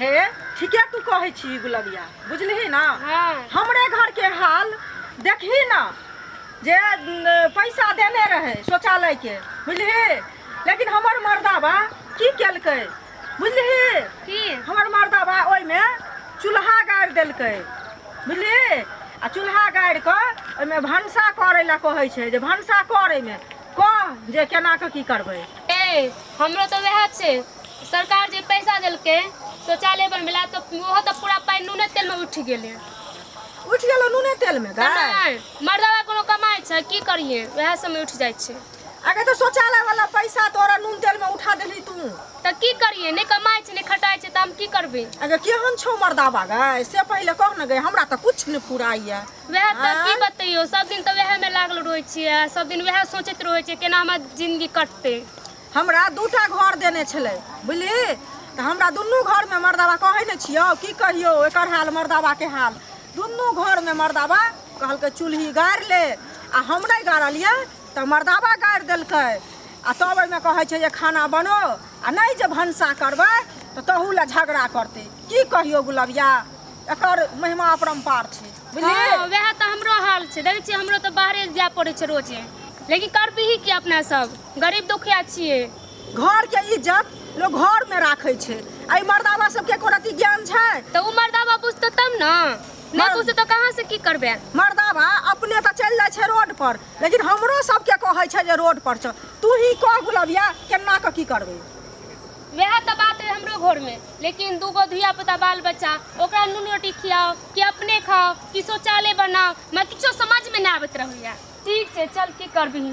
हे ठीके तू कहै छी गुलबिया बुझलही ना हाँ। हमरे घर के हाल देखही ना जे न, पैसा देने रहे शौचालय के बुझलही लेकिन हमर मर्दाबा की केलकै बुझलही की हमर मर्दाबा ओहिमे चूल्हा गाड़ि देलकै बुझलिही आ चूल्हा गाड़ि कऽ ओहिमे भनसा करै लए कहै छै जे भनसा करैमे कह जे केना कऽ की करबै ए हमरो तऽ वएह छै सरकार जे पैसा देलकै शौचालय बनबै लए तऽ ओहो तऽ पूरा पाइ नूने तेलमे उठि गेलै उठि गेलो नूने तेलमे तऽ गाय नहि मर्दवा कोनो कमाइ छै की करियै वएह सबमे उठि जाइ छै अगर तो शौचालय वाला पैसा तोरा नून तेल में उठा देली तू तऽ की करियै नहि कमाइ छै नहि खटाइ छै तऽ हम की करबै अगर केहन छौ मर्दाबा गाय से पहिले कह ने गए हमरा तऽ कुछ नहि फुराइए वएह तऽ की आँय? बतैयो सब दिन तऽ वएह मे लागल रहै छियै सब दिन वएह सोचैत रहै छियै केना हमर जिंदगी कटतै हमरा दूटा घर देने छलै बुझलियै तऽ हमरा दुनू घरमे मर्दाबा कहै नहि छियौ की कहियौ एकर हाल मर्दाबाके हाल दुनू घरमे मर्दाबा कहलकै चूल्ही गाड़ि ले आ हम नहि गाड़लियै तऽ मर्दाबा गाड़ि देलकै आ तब ओहिमे कहै छै जे खाना बनो आ नहि जे भनसा करबै तऽ तहू लए झगड़ा करतै की कहियौ गुलबिया एकर महिमा अपरम्पार छै बुझलियै हँ वएह तऽ हमरो हाल छै देखै छियै हमरो तऽ बाहरे जाय पड़ै छै रोजे लेकिन करबिही कि अपना सब गरीब दुखिया छियै घर के इज्जत लोग घर में राखे छे आई मर्दावा सब के कोनो ज्ञान छे तो उ मर्दावा बुझते तब ना नहीं बुझते तो कहां से की करबे मर्दावा अपने तो चल जाए छे रोड पर लेकिन हमरो सब के कहे छे जे रोड पर छ तू ही कह गुलबिया केना के की करबे वह तो बात है हमरो घर में लेकिन दूगो धिया पुता बाल बच्चा ओकरा नून रोटी खियाओ कि अपने खाओ कि शौचालय बनाओ मैं किछो समझ में ना आबत रहैया ठीक छे चल की करबही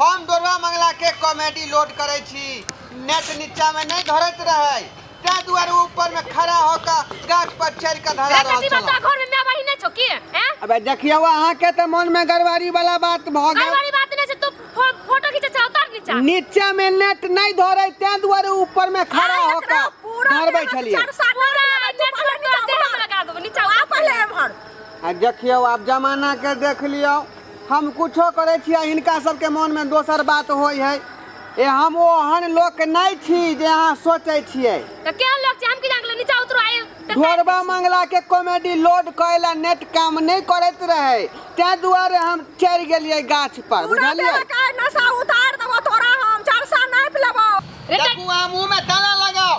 हम दोरवा मंगला के कॉमेडी लोड करे छी नेट नीचा में नहीं धरत रहे ते दुआरे ऊपर में खड़ा होकर गाछ पर चढ़ के धरा रहल कथी बात छला घर में माय बहिन नहीं छौ की हैं अबे देखियो अहाँ के तो मन में गड़बड़ी वाला बात भ कई गेल बारी बात नहीं छै तू फो- फोटो खींचे छौ उतार नीचा नीचा में नेट नहीं धरे ते दुआरे ऊपर में खड़ा होकर धरबै छलिए पूरा नेट पर तोरा देह में लगा देबो नीचा उतार पहले एमहर आ देखियो आप जमाना के देख लियो हम कुछो करै छी आ हिनका सब के मोन मे दोसर बात होइ हय। ए हम ओहन लोक नै छी जे अहाँ सोचै छियै। त केहन लोक छी हम की जानै गेलियै नीचा उतरू आ ई देखारि दै छी। ढोरबा मंगला के कॉमेडी लोड करै ला नेट काम नै करैत रहै तै दुआरे हम चढ़ि गेलियै गाछ पर पूरा बुझलियै। देहक आइ नशा उतारि देबौ तोरा हम। चारि सए नापि लेबौ। देखू अहाँ मुँह मे ताला लगाउ।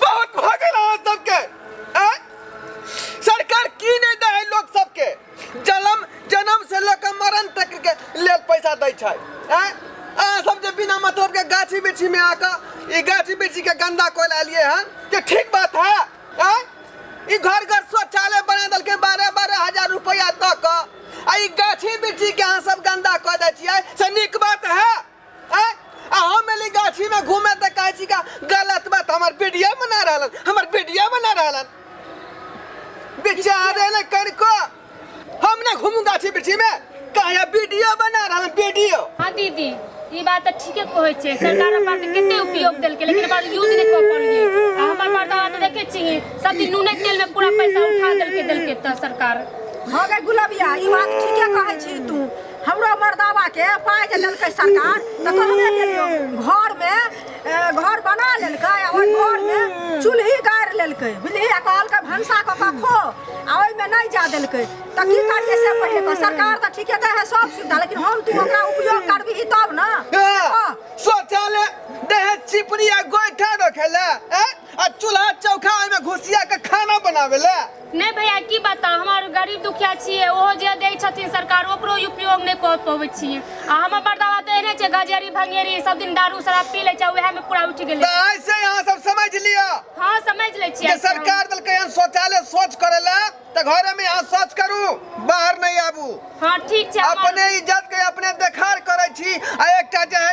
बहुत भऽ गेल अहाँ सबके आँय? सरकार की नहि दै है लोक सबके जलम जन्म से लऽ कऽ मरण तक के लेल पैसा दै छै आँय? अहाँ सब जे बिना मतलब के गाछी बिरछी में आके ई गाछी बिरछी के गंदा कोल एलिए हन के ठीक बात है आँय? ई घर घर शौचालय बना देलकै बारह बारह हजार रुपया दऽ कऽ आ ई गाछी बिरछी के अहाँ सब गंदा कऽ दै छियै से नीक बात है आय, आ हम एली गाछी में घूमे त कहै छी का गलत बात हमर वीडियो बना रहलन हमर वीडियो बना रहलन बेचारे ने कनिको हम ना घूमू गाछी बिरछी में कहया वीडियो बना रहलन वीडियो हाँ दीदी ई बात तऽ ठीके कहै छै सरकार अपन तऽ कते उपयोग देलकै लेकिन ओकर यूज नहि कऽ पौलियै आ हमर मर्दवा तऽ देखै छियै सब दिन नूने तेल में पूरा पैसा उठा देलकै देलकै तऽ सरकार हाँ गे गुलबिया ई बात ठीके कहै छी तू हमरो मर्दावा के पाय जे देलकै सरकार तऽ कहबे केलियो घर में ए, घर बना लेलकै आ ओहि घर में चूल्ही गाड़ि लेलकै बुझलिही आ कहलकै भनसा कऽ कऽ खो आ ओहिमे नहि जा देलकै तऽ की करियै से पहिले तऽ सरकार तऽ ठीके दै है सब सुविधा लेकिन हम तू ओकरा उपयोग करबिही तब ने हँ। शौचालय देह चिपड़ी आ गोइठा रखे ला आ चूल्हा चौखा ओहिमे घुसिया के खाना बनावे ले नहि भैया की बताउ हमर गरीब दुखिया छियै ओहो जे दै छथिन सरकार ओकरो उपयोग नहि कऽ पबै छियै आ हमर बड़दावा तऽ एहने छै गजेरी भंगेरी सब दिन दारू शराब पी लै छै उएह मे पूरा उठि गेलै तऽ आइ से अहाँ सब समझ लिअ हँ समझ लै छियै जे सरकार देलकै हन शौचालय शौच करे ले तऽ घरे में अहाँ शौच करू बाहर नहीं आबू हँ ठीक छै हमर- अपने इज्जत के अपने देखार करे छी आ एकटा जे है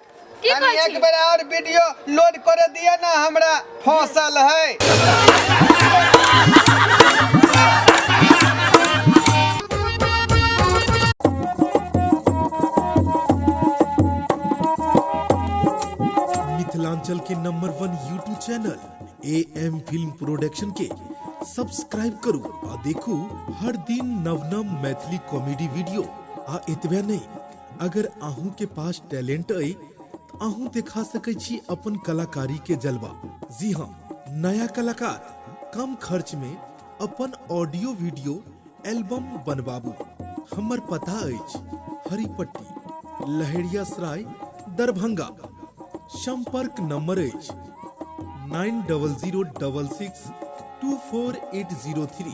की कनि कहै एक छी बेर और वीडियो लोड कर दिया ना हमरा फसल है मिथिलांचल के number one YouTube channel A M film production के सब्सक्राइब करू आ देखू हर दिन नव नव मैथिली कॉमेडी वीडियो आ एतबे नहीं अगर अहूं के पास टैलेंट अई त अहूं दिखा सकै छी अपन कलाकारी के जलवा जी हां नया कलाकार कम खर्च में अपन ऑडियो वीडियो एल्बम बनबाबू हमर पता अछि हरिपट्टी लहेरिया सराय दरभंगा संपर्क नंबर अछि nine double zero double six two four eight zero three